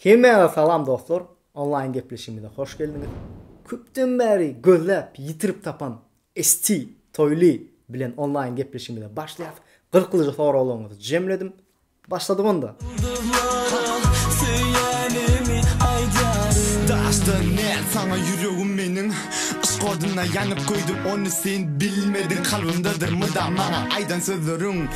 Hemmäňize salam dostlar, onlaýn gepleşigimize hoş geldiňiz. Köpden bäri gözläp ýitirip tapan ST Toýly bilen onlaýn gepleşigimize başlaýas. Gyzyklyja soraglaryňyzy jemledim. Başladyk onda. Ýyldyzlara söýenimi aýdaryn. Daşda näl saňa ýüregim meniň Yşk oduna ýanyp göýdüm ony sen bilmediň Kalbymdadyr mydam maňa aýdan sözleriň.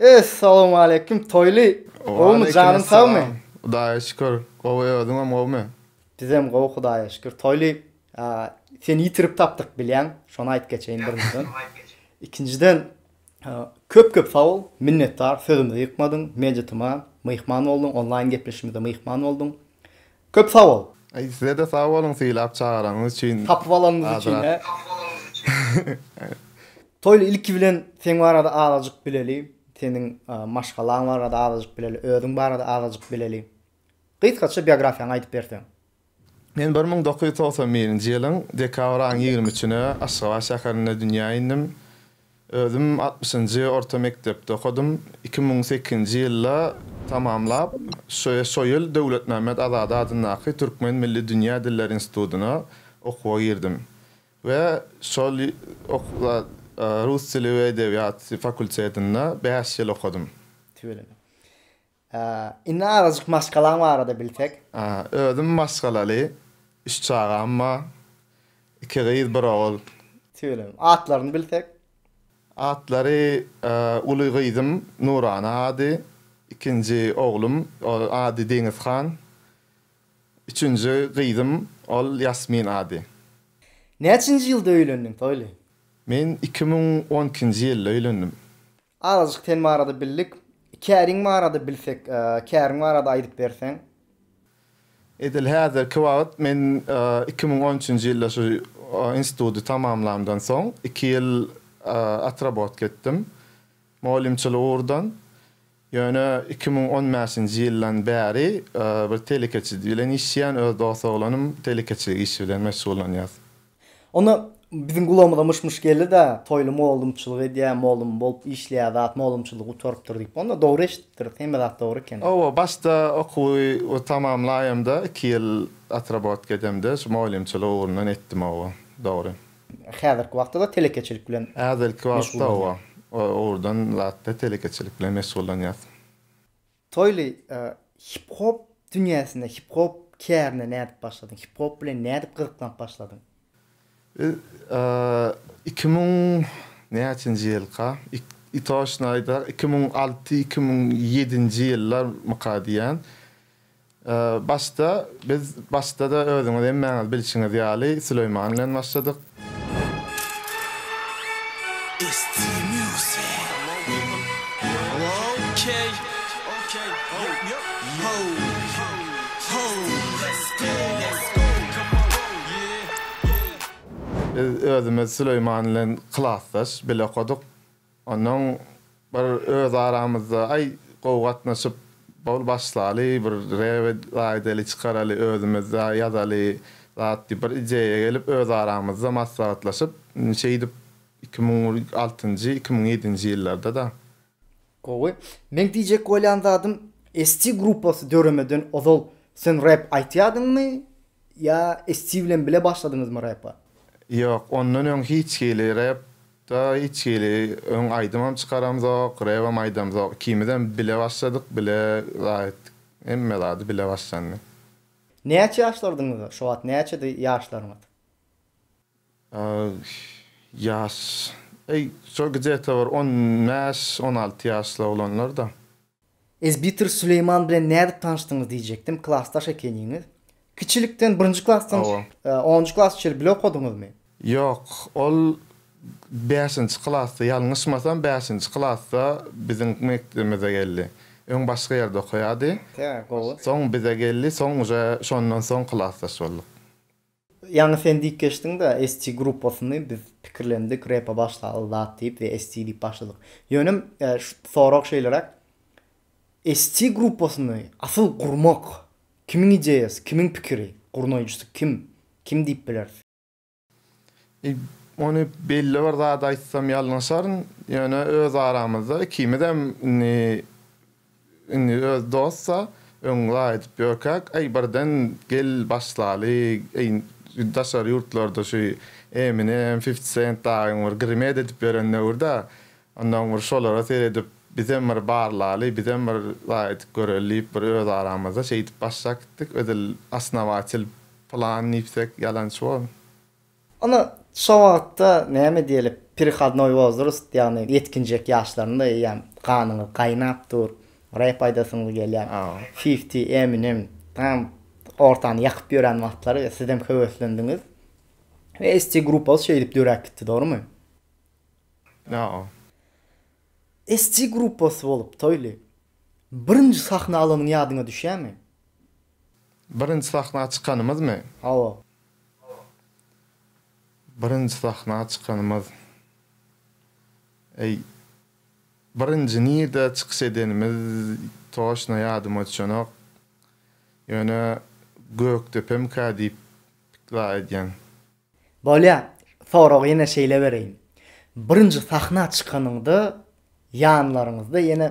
Essalawmaleýkim Toýly. Gowmy janyň sagmy. Hudaýa şükür gowy özüňem gowmy. Bizem gowy Hudaýa şükür Toýly seni ýitirip tapdyk bilýäň şony aýyp geçeýin birinjiden ikinjiden köp köp sagbol minnetdar sözümizi ýykmadyň mejetuma myhman bolduň onlaýyn gepleşigimize myhman bolduň Köp sag bol. Aý sizede sag boluň sylap çagyranyňyz üçin. Tapyp alanyňyz üçin he. Tapyp alanyňyz üçin. Toýly ilki bilen seň barada azajyk bileli seniň maşgalaň barada azajyk bileli özüň barada azajyk bileli gysgaça biografiýaňy aýdyp berseň. Men bir müň dokuz ýüz togsan birinji ýylyň dekabr aýyň ýigrimi üçüne Aşgabat şäherinde dünýä indim. Özüm altmyşynjy orta mekdepde okadym. Iki müň sekizinji ýylda tamamlap, şo ýyl Döwletmämmet Azady adyndaky Türkmen milli dünýä dilleri institutyna okuwa girdim we şol okuwda rus dili we edebiýaty fakultetinde bäş ýyl okadym. Tüweleme. Indi azajyk maşgalaň barada bilsek. Özüm maşgalaly, üç çagam bar. Iki gyz, bir ogul. Tüweleme. Atlaryny bilsek. Atlary uly gyzym Nurana ady, ikinji oglum ol ady Deňizhan, üçünji gyzym ol Ýasmin ady. Näçinji ýylda öýlendiň Toýly? Men iki müň on ikinji ýylda öýlendim. Azajyk sen barada bildik. Käriň barada bilsek, käriň barada aýdyp berseň. Edil häzirki wagt men iki müň on üçünji ýylda şu institudy tamamlamdan soň iki ýyl otrabotka etdim mugallymçylyk ugurdan. Ýöne iki müň on bäşinji ýyldan bäri bir telekeçi bilen işleýän öz dos oglanym telekeçilik işi bilen meşgullanýas. Onda biziň gulagymyza myş-myş geldi-de, Toýly mollumçylyk edýär, mollum bolup işleýär zat, mollumçylygy gutarypdyr diýip. Onda dogry eşidipdiris, hemme zat dogry eken. Hawa, başda okuwy tamamlaýamda, iki ýyl otrabotka edemde şu mollumçylyk ugrundan etdim, hawa, dogry. Häzirki wagtda-da telekeçilik bilen meşgullanýas. Häzirki wagtda, hawa, o ugurdan zat-da telekeçilik bilen meşgullanýas. Toýly, hip-hop dünýäsine, hip-hop kärine nädip başladyň? Hip-hop bilen nädip gyzyklanyp başladyň? Biz iki müň näçenji ýylka, i toşny aýda, iki müň alty, iki müň ýedinji ýyllarmyka diýýän, Başda biz başda-da özüňiz hemmäňiz bilşiňiz ýaly Süleýman bilen başladyk. Biz özümiz Süleýman bilen klasdaş, bile okadyk. Onnoň bir öz aramyzda aý gowy gatnaşyp bol başlaly bir rebe laýdeli çykaraly özümizde ýazaly zat diýip bir ideýa gelip öz aramyzda maslahatlaşyp şeýdip iki müň altynjy iki müň ýedinji ýyllarda-da. Gowy. Meň diýjek bolýan zadym ST gruppasy döremeden ozal sen rep aýtýadyňmy ýa ST bilen bile başladyňyzmy repa? Ýok ondan öň hiç hili rep Da içgili öň aýdymam çykaramzok, rebem aýdamzok. Ikimizem bile başladyk, bile zat etdik. Hemme zady bile başlandy. Näçe ýaşlardyňyz şo wagt, näçedi ýaşlaryňyz? Ýaş, eý şo gde-te bir on bäş, on alty ýaşly oglanlar-da. Ezbitir Süleýman bilen nädip tanyşdyňyz diýjekdim, klasdaş ekeniňiz. Kiçilikden, birinji klasdan onunjy klasa çenli bile okadyňyzmy? Ýok, ol bäşinji klasda, ýalňyşmasam, bäşinji klasda biziň mekdebimize geldi. Öň başga ýerde okaýardy. Soň bize geldi, soň uje şondan soň klasdaş bolduk. Ýaňy sen diýip geçdiň-de, ST gruppasyny biz pikirlendik, repa başlaly zat diýip we ST diýip başladyk. Ýöne sorag şeýleräk, ST gruppasyny asyl gurmak kimiň ideýasy, kimiň pikiri, gurnaýjysy kim, kim diýip bileris? Eý, ony belli bir zady aýtsam ýalňyşaryn, ýöne öz aramyzda ikimizem indi Indi öz dost-a, öň laýydyp ýörkäk, äý, birden gel başlaly, äý, daşary ýurtlarda şu Eminem, Fifti Sent dagyň bir grimed edip ýören döwür-dä, onnoň bir şolara seredip, bizem bir barlaly, bizem bir laýydyp göreli diýip, bir öz aramyzda şeýdip başlap gitdik, edil osnowatel plan diýsek ýalançy bolar. Onda şo wagtda näme diýeli perihodnoý wozrast ýagny ýetginjek ýaşlarynda eýýäm ganyňyz gaýnap dur, rep aýdasyňyz gelýär. Fifti, Eminem tam ortany ýakyp ýören wagtlary we sizem höweslendiňiz we ST gruppasy şeýdip döräp gitdi dogrymy? Ýa-a. ST gruppasy bolup Toýly birinji sahna alanyň ýadyňa düşýärmi? Birinji sahna çykanymyzmy? Hawa. Birinji sahna çykanymyz, eý, birinji nirde çykyş edenimiz toşna ýadyma düşenok. Ýöne Gökdepemkä diýip pikla edýän. Bolýa, soragy ýene şeýle bereýin. Birinji sahna çykanyňda ýanlaryňyzda ýene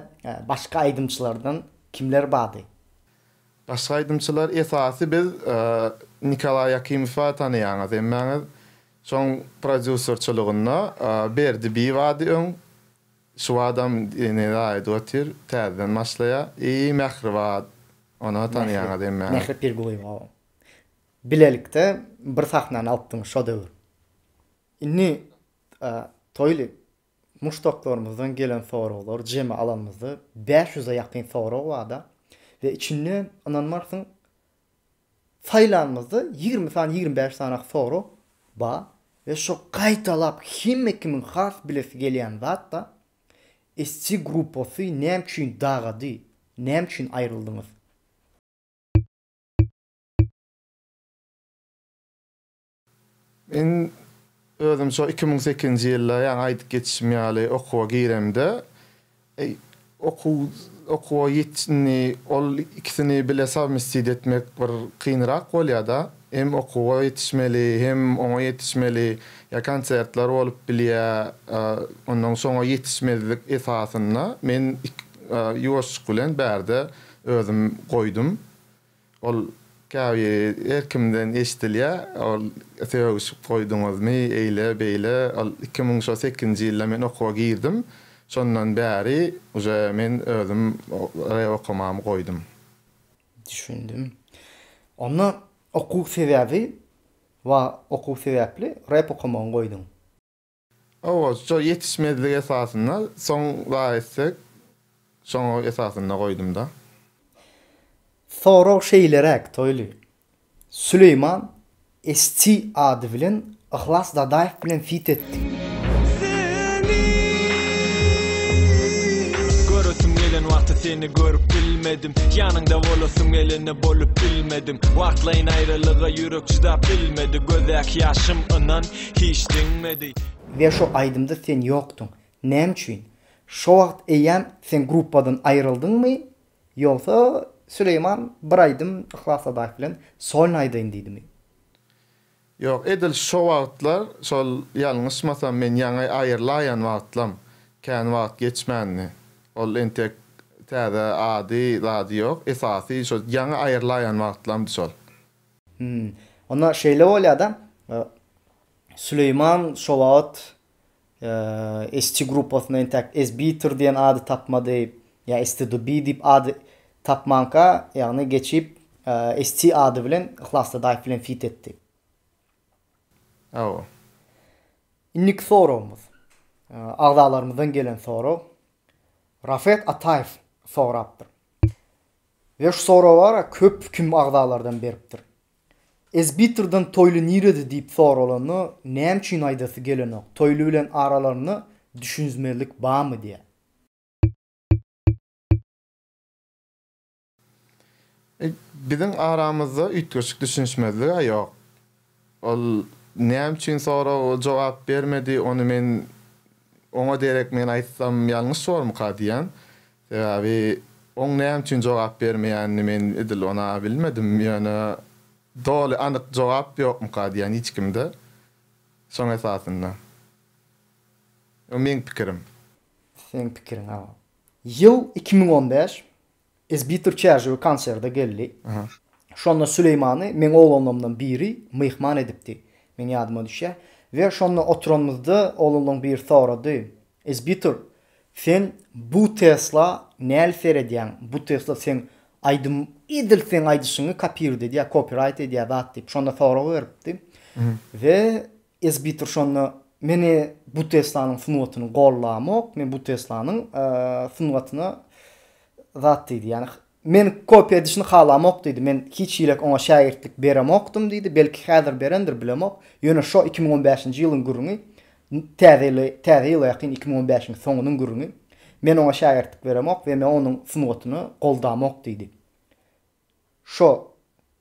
başga aýdymçylardan kimler bardy? Başga aýdymçylar esasy biz Nikolaý Akimowa tanaýaňyz hemmäňiz şoň prodýuserçylygynda Berdi bi bady öň şu badam ýene raýda otyr täzeden başlaýa i Mähri bar ony tanaýaňyz hemmäňiz. Mähri Pirgulyýewa bilelikde bir sahnany alypdyň şo döwür indi toýly Muşdaklarymyzdan gelen soraglar jemi alanymyzda bäş ýüze ýakyn sorag barda we içinde ynanmarsyň saýlanymyzda ýigrimi sany ýigrimi bäş sany sorag bar we şo gaýtalap hemme kimiň has bilesi gelýän zatda Esji gruppasy näme üçin dagady näme üçin aýryldyňyz. Men özüm şo iki müň sekizinji ýylda ýaňy aýdyp geçişim ýaly okuwa giremde okuw okuwa ýetindi ol ikisini bile sowmestid etmek bir kynrak bolýada hem okuwa ýetişmeli hem oňa ýetişmeli ýa konsertler bolup bilýä onnoň şoňa ýetişmezlik esasynda men ýuwaşjyk bilen bärde özüm goýdum Ol käbir her kimden eşidilýär. Ol sögüşip goýduňyzmy, eýle, beýle. Ol iki müň şo sekizinji ýylda men okuwa girdim. Şondan bäri uje men özüm rep okamamy goýdum. Düşündim. Onda okuw sebäbi, wa okuw sebäpli rep okamagy goýduň? Hawa, şo ýetişmezlik esasynda soň zaýetsek, şoňa esasynda goýdum-da. Sorag şeýleräk, Toýly. Süleýman SC ady bilen Yhlas Dadaýew bilen fit etdi. Seni göresim gelen wagty seni görüp bilmedim Ýanyňda bolasym geleni bolup bilmedim Wagtlaýyn aýralyga ýürek çydap bilmedi Gözdäki ýaşym ynan Hiç deňmedi. We şo aýdymda sen ýokduň. Näme üçin? Şo wagt eýýäm sen gruppadan aýryldyňmy? Ýogsa Süleýman bir aýdym Yhlas Sadaýew bilen solno aýdaýyn diýdimi? Ýok, edil şo wagtlar, şol ýalňyşmasam men ýaňy aýrylaýan wagtlam, kän wagt geçmändi. Ol entek täze ady, zady ýok. Esasy şo ýaňy aýrylaýan wagtlamdy şol. Hum. Onda şeýle bolýa-da, Süleýman şo wagt ST gruppasyna entäk SBiter diýen ady tapmady, ýa STDB diýip ad tapmanka, ýagny geçip ST ady bilen Yhlas Dadaýew bilen fit etdi. Hawa. Indiki soragymyz, agzalarymyzdan gelen sorag. Rafet Ataýew sorapdyr. Ve şu soragara köp kim agzalardan beripdir. Ezbitrden Toýly nirede diýip soralanda näme üçin aýdasy gelenok, Toýly bilen aralarynda düşünzmezlik bamy diýä. Biziň aramyzda üýtgeşik düşünişmezlige ýok. Ol näme üçin soraga jogap bermedi, ony men oňa derek men aýtsam ýalňyş bormyka diýýän. Sebäbi oň näme üçin jogap bermeýänini men edil ona bilmedim, ýöne doly anyk jogap ýokmyka diýýän hiç kimde. Şoň esasynda. Bu meň pikirim. Seň pikiriň, awa. Ýyl iki müň on bäş. Esbitir çärjewi konserde geldi. Şonda Süleýmany meň oglanlarymdan biri myhman edipdi. Meň ýadyma düşýär. We şonda oturanymyzda oglanlaryň biri sorady, Esbitir, sen bu Tesla näl seredýäň? Bu Tesla seň aýdym edil seň aýdyşyňy kopird edýär, kopiraýt edýär zat diýip. Şonda sorag beripdi. We Esbitur şonda, Men bu Teslanyň sungatyny gollamok, men bu Teslanyň sungatyna zat diýdi, ýagny meni kopiýa edişini halamok diýdi, men hiç hili oňa şägirtlik beremokdym diýdi, belki häzir berendir bilemok, ýöne şo iki müň on bäşinji ýylyň gürrüňi, täze ýyla ýakyn iki müň on bäşiň soňunyň gürrüňi, men oňa şägirtlik beremok we men onuň sungatyny goldamok diýdi. Şo,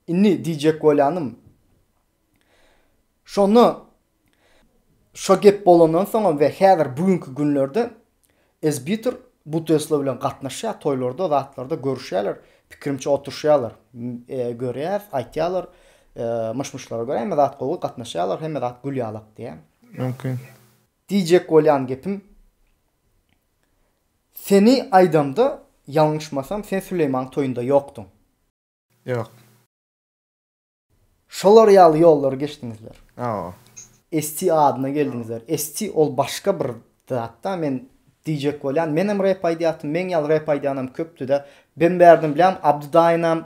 indi diýjek bolýanym, şonda şo gep bolandan soňam we häzir bu günki günlerde Esbitur bu Tesla bilen gatnaşýar, toýlarda, zatlarda görüşýärler, pikirimçe oturyşýarlar, görýäs, aýtýarlar, myş-myşlara görä hemme zat gowy, gatnaşýarlar, hemme zat gül ýalak diýýär. Mümkin. Diýjek bolýan gepim, Seni aýdamda ýalňyşmasam sen Süleýmaň toýunda ýokduň. Ýok. Şolar ýaly ýollary geçdiňizler. Hawa. ST adyna geldiňizler. ST ol başga bir zatda men diýjek bolýan. Menem rep aýdýatym, meň ýaly rep aýdýanam köpdüde. Ben bärden bilýän Abdy daýynam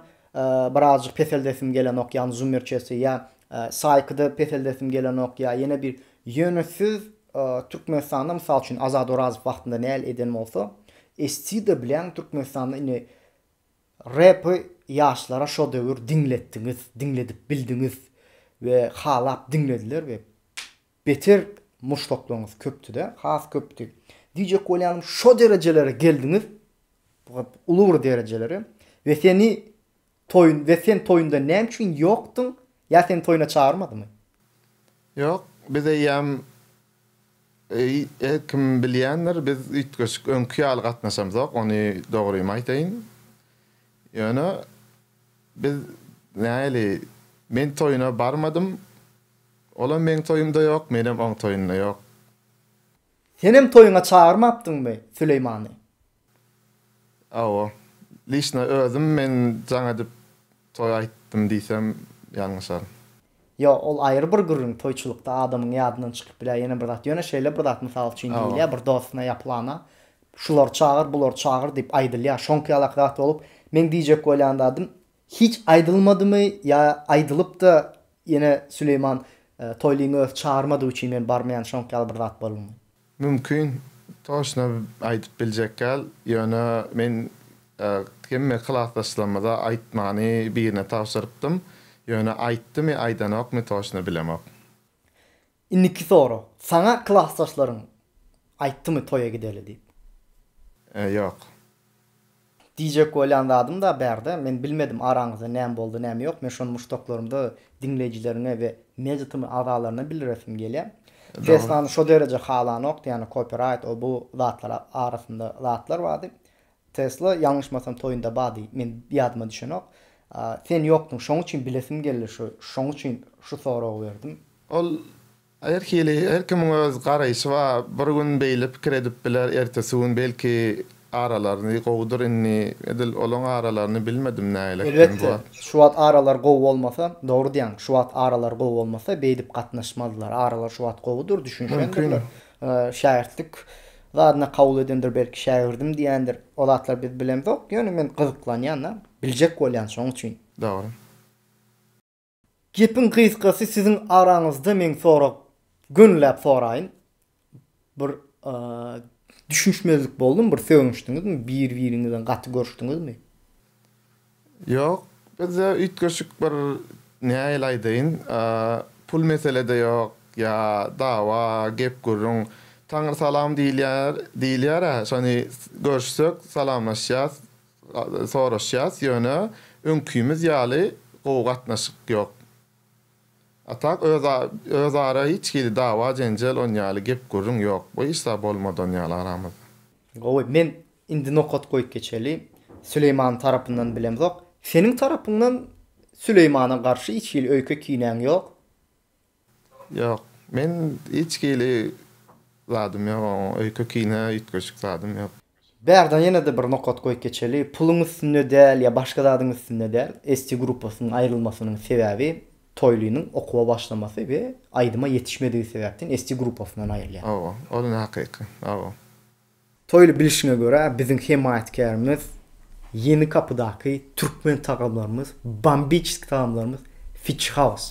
birazjyk peseldesim gelenok ýagny zummerçesi ýa saýkyda peseldesim gelenok ýa ýene bir Ýöne siz Türkmenistanda mysal üçin Azat Orazow wagtynda näl eden bolsa, estide bilen Türkmenistanda indi repi ýaşlara şo döwür diňletdiňiz, diňledip bildiňiz we halap diňlediler we beter muşdaklaryňyz köpdüde, has köpdi. Diýjek bolýanym şo derejelere geldiňiz, uly bir derejelere we seni Toýun we sen toýunda näme üçin ýokdyň ýa seni toýuna çagyrmadymy? Ýok, biz eýýäm her kim bilýändir, biz üýtgeşik öňki ýaly gatnaşamzok, ony dogrymy aýtaýyn. Ýöne biz nähili men toýuna barmadym, olam meň toýumda ýok, menem oň toýunda ýok. Senem toýuňa çagyrmapdyňmy Süleýmany? Hawa. Lişna özüm men jaň edip toý aýtdym diýsem ýalňyşaryn. Ýo, ol aýry bir gürrüň, toýçulykda adamyň ýadyndan çykyp bilýär ýene bir zat. Ýöne şeýle bir zat mysal üçin diýilýär, bir dostyna ýa pylana şulary çagyr, bulary çagyr diýip aýdylýar. Şoňky ýalaky zat bolup, meň diýjek bolýan zadym, hiç aýdylmadymy ýa aýdylyp-da ýene Süleýman Toýlyny özi çagyrmadygy üçin men barmaýan şoňky ýaly bir zat boldumy? Mümkin, toçna aýdyp biljekgäl, ýöne men hemme klasdaşlarymyza aýtmany birine tabşyrypdym, ýöne aýtdymy, aýdanokmy toçna bilemok. Indiki sorag, saňa klasdaşlaryň aýtdymy toýa gideli diýip? Ýok. Diýjek bolýan zadym-da bärde, men bilmedim araňyzda näme boldy, näme ýok, men şony muşdaklarymda diňleýjileriňe we Media TM agzalaryna bildiresim gelýär. Teslany şo dereje halanokdy, ýagny kopiraýt, o-bu zatlar arasynda zatlar bardy. Tesla, ýalňyşmasam, toýunda bardy, men ýadyma düşenok. Sen ýokduň, şoň üçin bilesim geldi, şoň üçin şu soragy berdim. Ol Her hili, her kimiň öz garaýşy bar, bir gün beýle pikir edip biler, ertesi gün belki aralaryny gowudyr indi edil olaň aralaryny bilmedim nägilek men bu Elbetde, wagt. şu wagt aralar gowy bolmasa, dogry diýýäň, şu wagt aralar gowy bolmasa beýdip gatnaşmazlar, aralar şu wagt gowudyr, Mümkin. düşünişendirler, şägirtlik zadyna kabul edendir belki, şägirdim diýendir, o zatlar biz bilemzok, ýöne men gyzyklanýan-da, biljek bolýan şoň üçin. Dogry. Gepiň gysgasy siziň araňyzda men sorag gönüläp soraýyn. Bir düşünişmezlik boldumy, bir sögünişdiňizmi, bir biriňizden gaty görüşdiňizmi? Ýok, bizde üýtgeşik bir nähili aýdaýyn, pul meselede ýok, ýa dawa, gep gürrüň, taňrysalam diýilýär, diýilýär-ä, şony görüşsek salamlaşýas, soraşýas ýöne öňkimiz ýaly gowy gatnaşyk ýok. A tak öz ara hiç hili dawa jenjel on ýaly gep gürrüň ýok bu işda bolmadan ýaly aramyzda. Gowy men indi nokat goýup geçeli Süleýmanyň tarapyndan bilemzok seniň tarapyňdan Süleýmana garşy hiç hili öýke kinäň ýok. Ýok, men hiç hili zadym ýok oň öýke kine üýtgeşik zadym ýok. Bärden ýene-de bir nokat goýup geçeli, puluň üstünde däl ýa başga zadyň üstünde däl, ST gruppasynyň aýrylmasynyň sebäbi Toýlynyň okuwa başlamasy we aýdyma ýetişmedigi sebäpden ST gruppasyndan aýrylýar. Hawa, ol hakyky. Hawa. Toýly bilişiňe görä biziň hemaýatkärimiz Ýeni Gapydaky Türkmen tagamlarymyz, Bombiçeski tagamlarymyz Fiçi Haus.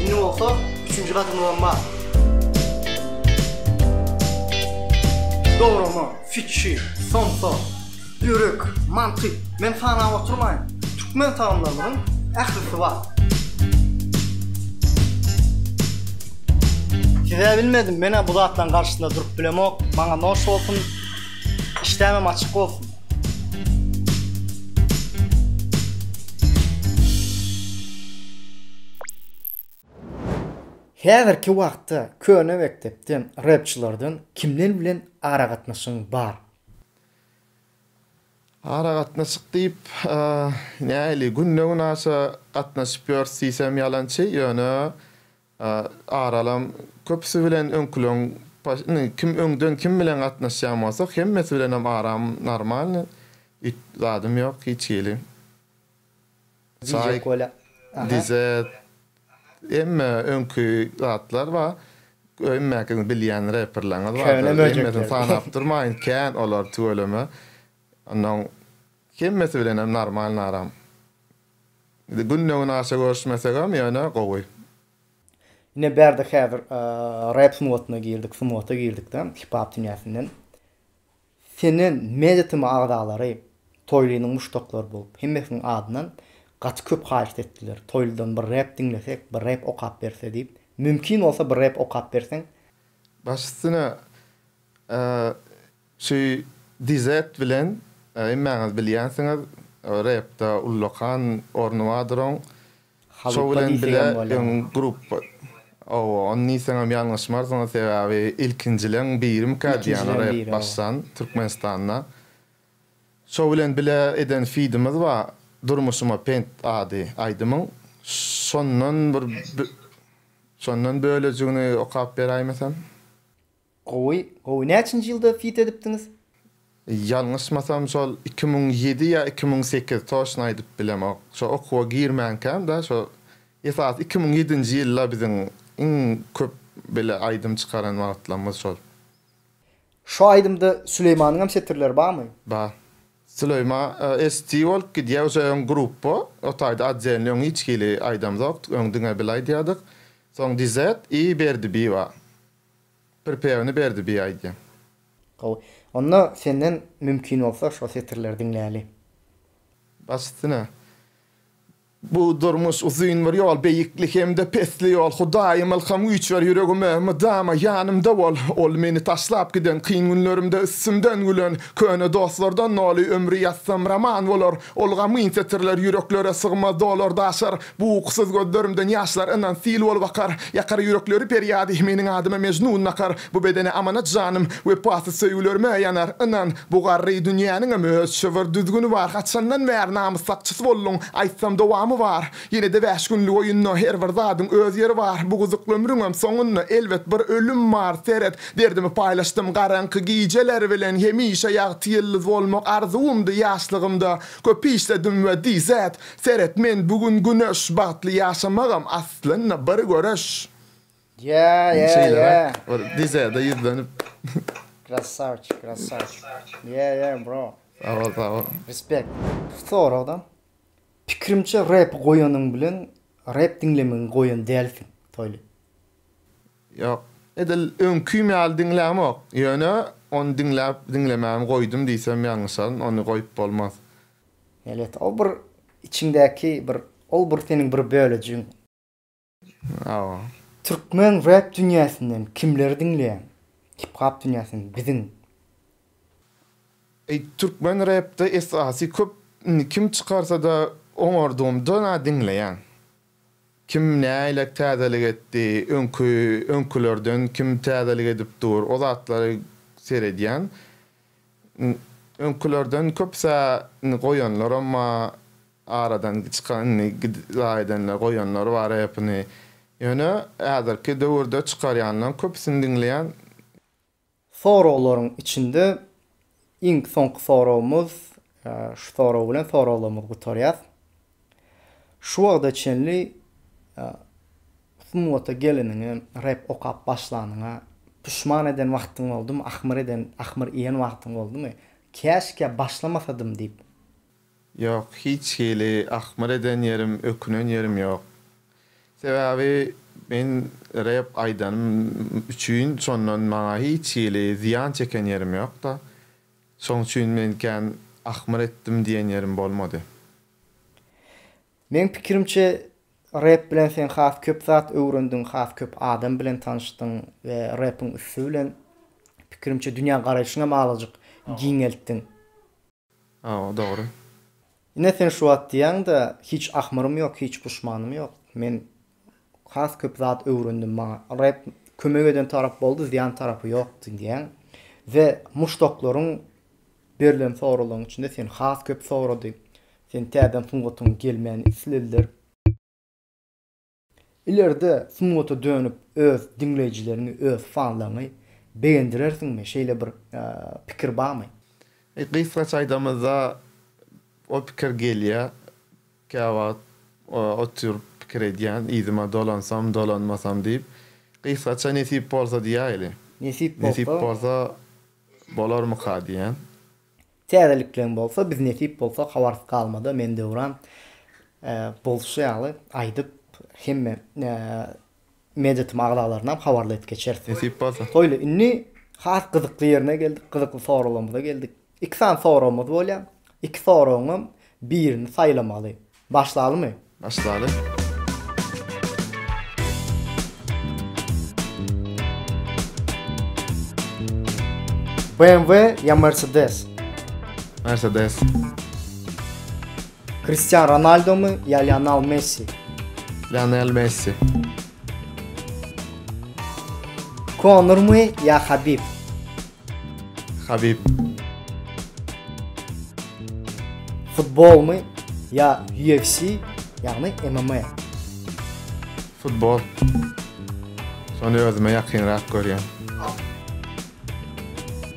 Indi bolsa üçünji gadymyzam bar. Dograma, fikir, somsa, ýürek, mantyk, men sanap oturmaýyn. Türkmen tagamlarynyň ählisi bar. Size bilmedim, men-ä bu zatlaryň garşysynda durup bilemok. Maňa noş bolsun. Işdämem açyk bolsun. Häzirki wagtda köne mekdepden repçilerden kimler bilen aragatnaşygyň bar? Aragatnaşyk diýip, nähili, günde-günaşa gatnaşyp ýörüs diýsem ýalançy, ýöne aralam köpüsi bilen öňküleň indi kim öňden kim bilen gatnaşýan bolsa, hemmesi bilenem aram normalny, zadym ýok hiç hili. Çaýk, dize, hemme öňki zatlar bar. Hemmäňiziň bilýän reperleriňiz bardyr. Hemmesini sanap durmaýyn, kän olar tüweleme. Onnoň hemmesi bilenem normalny aram. Günde-gün aşa görüşmesegem ýöne gowy. Ine bärde häzir rep sungatyna girdik, sungata girdikde, hip-hop dünýäsinden. Senden media tm agzalary Toýlynyň muşdaklary bolup, hemmesiniň adyndan gaty köp haýyşt etdiler, Toýlydan bir rep diňlesek, bir rep okap berse diýip. Mümkin bolsa bir rep okap berseň. Baş üstüne şu dizet bilen hemmäňiz bilýänsiňiz repde ullakan orny bardyr oň. Şo Halypa bilen bile diýsegem öň bolýar. grupba Hawa, ony diýseňem ýalňyşmarsyňyz, sebäbi ilkinjileň birimikä diýýän Ilkinjileň rep biri, hawa. başdan Türkmenistanda. Şo bilen bile eden fidimiz bar, Durmuşyma pent ady aýdymyň. Şondan bir bö Şondan bölejigini okap beräýmesem? Gowy gowy näçinji ýylda fit edipdiňiz. Ýalňyşmasam şol iki müň ýedi ýa iki müň sekiz toşna aýdyp bilemok şo okuwa girmänkäm da şo esasy iki müň ýedinji ýylda biziň iň köp bile aýdym çykaran wagtlamyz şol. Şo aýdymda Süleýmanyňam setirleri barmy? Bar. Süleýma ST bolup gidýär uje öň gruppa o taýda otdelny öň hiç hili aýdamzokdyk öň diňe bil aýdýardyk soň DZ i Berdibi bar. Pirpegini berdi bi aýdýan. Gowy. Onda senden mümkin bolsa şo setirleri diňläli. Baş üstüne. Bu durmuş uzyn bir ýol beýikli hem-de pesli ýol Hudaýym ylham güýç ber ýüregime mydama ýanymda bol Ol meni taşlap giden kyn günlerimde üstümden gülen köne dostlardan doly ömri ýazsam roman bolar Ol gamgyn setirler ýüreklere sygmaz dolar daşar Bu ukusyz gözlerimden ýaşlar ynan sil bolup akar, Ýakar ýürekleri perýady meniň adyma Mejnun nakar. Bu bedene amanat janym, wepasyz söýgülerime ýanar, Ynan, bu garry dünýäniňem öz çybyr düzgüni bar, Haçandan bäri namys sakçysy bolduň, aýtsam dowamy bar. Ýene-de bäş günlük oýunda her bir zadyň öz ýeri bar, Bu gyzykly ömrüňem soňunda elbet bir ölüm bar, Seret, derdimi paýlaşdym garaňky gijeler bilen, Hemişe ýagty ýyldyz bolmak arzuwymdy ýaşlygymda, Köp işledim we DZ. Seret men bu gün güneş Bagtly ýaşamagam aslynda bir göreş. Ýa ýa ýa. Bir dizede ýüzlenip. Krassawçik krassawçik. Ýa ýa bro. Sag bol sag bol. Respect. Soragda. Pikirimçe rap goýanyň bilen rap diňlemegi goýan dälsiň Toýly. Ýok. Edil öňkim ýaly diňlämok. Ýöne ony diňläp diňlemämi goýdum diýsem ýalňyşaryn ony goýup bolmaz. Melet, o bir içiňdäki bir, ol bir seniň bir bölejigiň. Hawa. Türkmen rep dünýäsinden kimleri diňleýäň? Hip-hop dünýäsinden biziň. Türkmen repde esasy köp indi kim çykarsa-da oňardygymda diňleýän. Kim näýlek täzelik etdi, öňki öňkülerden kim täzelik edip dur, o zatlary seredýän. Öňkülerden köpüsä indi goýanlaram bar, aradan çykan indi gidip-la edenler, goýanlar bar repini. Ýöne häzirki döwürde çykarýanlaryň köpüsini diňleýän. Soraglaryň içinde iň soňky soragymyz, şu sorag bilen soraglarymyzy gutarýas. Şu wagta çenli sungata geleniňe, rep okap başlanyňa puşman eden wagtyň boldumy, ahmyr eden, ahmyr iýen wagtyň boldumy, käşgä başlamasadym diýip? Ýok, hiç hili ahmyr eden ýerim, ökünen ýerim ýok. Sebäbi men rep aýdanym üçin şondan maňa hiç hili zyýan çeken ýerim ýok-da. Şoň üçin men kän ahmyr etdim diýen ýerim bolmady. Meň pikirimçe, rep bilen sen has köp zat öwrendiň, has köp adam bilen tanyşdyň we repiň üsti bilen, pikirimçe, dünýä garaýşyňam azajyk giňeltdiň. Hawa dogry. Ine sen şu wagt diýýäňdä hiç ahmyrym ýok hiç puşmanym ýok men has köp zat öwrendim maňa Reb kömek eden tarap boldy zyýan tarapy ýokdy diýýäň we muşdaklaryň berlen soralaryň içinde sen has köp sorady sen täzeden sungatyň gelmegini islediler. Ileride sungata dönüp öz diňleýjileriňi öz fanlaryňy begendirersiňmi şeýle bir pikir barmy? Gysgaça aýdamyzda o pikir gelýä käwagt otyryp pikir edýän yzyma dolansam dolanmasam diýip gysgaça nesip bolsa diýäýli. Nesip bolsa bolarmyka diýän. Täzelikleň bolsa biz nesip bolsa habarsyz galmada men Döwran bolşy ýaly aýdyp hemme mediatm agzalarynam habarly edip geçeris. Nesip bolsa. Toýly indi has gyzykly ýerine geldik, gyzykly soraglarymyza geldik. Iki sany soragymyz bolýar. Iki soragyňam birini saýlamaly. Başlalymy? Başlaly. BMW ya Mercedes? Mercedes. Cristiano Ronaldo mu ya Lionel Messi? Lionel Messi. Conor mu ya Habib? Habib. Futbolmy ýa UFC, ýagny MMA? Futbol. Şony özüme ýakynrak görýän.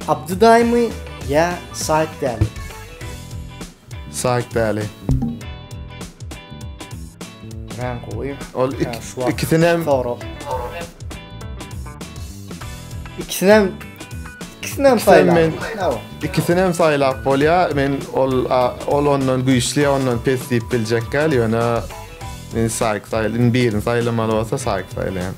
Abdydaýmy ýa Saýtdäli? Saýt däli. Ran goýy. Ol ikisini hem sorap. İkisini hem ikisini hem saýlap. İkisini hem saýlap bolýar. Men ol ol ondan güýçli, ondan pes diýip biljek gal, ýöne men saýk saýlyn, birini saýlamaly bolsa saýk saýlaýan.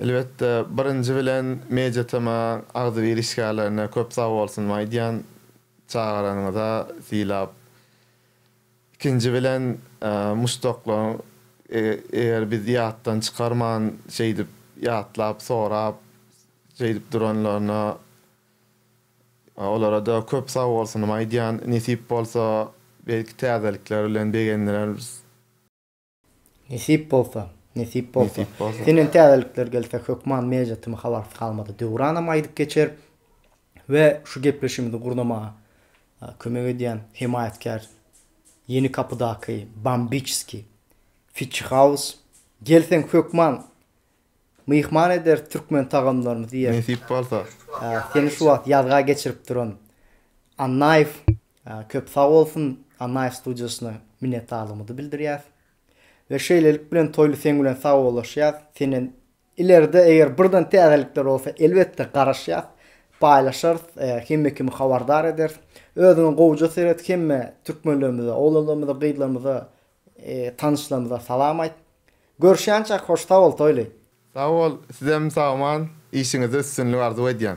Elbetde birinji bilen MediaTm-a agzybir işgärlerine köp sagbolsun aýdýan çagaranyňyza sylap. Ikinji bilen muşdaklaryň eger biz ýatdan çykarman şeýdip ýatlap sorap şeýdip duranlaryna olarada köp sagbolsunymy aýdýan nesip bolsa belki täzelikler bilen begendireris. Nesip bolsa, nesip bolsa. Senden täzelikler gelse hökman mejlisiň habarsyz galmady. Döwranam aýdyp geçer we şu gepleşigimizi gurnamaga kömek edýän hemaýatkär Ýeni kapydaky Bambiçski, Fitçi Haus. Gelseň hökman Myhman ederis türkmen tagamlaryny diýer. Nesip bolsa. Seni şu wagt ýazga geçirip duran Annaýew köp sag bolsun, Annaýew studiýasyna minnetdarlygymyzy bildirýäs. We şeýlelik bilen Toýly seň bilen sagbollaşýas. Senden ileride eger birden täzelikler bolsa elbetde garaşýas, paýlaşarys, hemme kimi habardar ederis. Özüňe gowja seret, hemme türkmenlerimize, oglanlarymyza, gyzlarymyza Tanyşlarymyza salam aýt. Görüşýänçäk hoş sag bol Toýly. Sag bol sizem sagman işiňizde üstünlik arzuw edýän.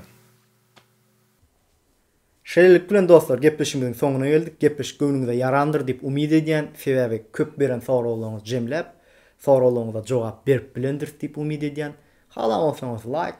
Şeýlelik bilen dostlar gepleşigimiziň soňuna geldik. Gepleşik göwnüňize ýarandyr diýip umyt edýän. Sebäbi köp beren soraglaryňyzy jemläp, soraglaryňyza jogap berip bilendiris diýip umyt edýän. Halan bolsaňyz laýk,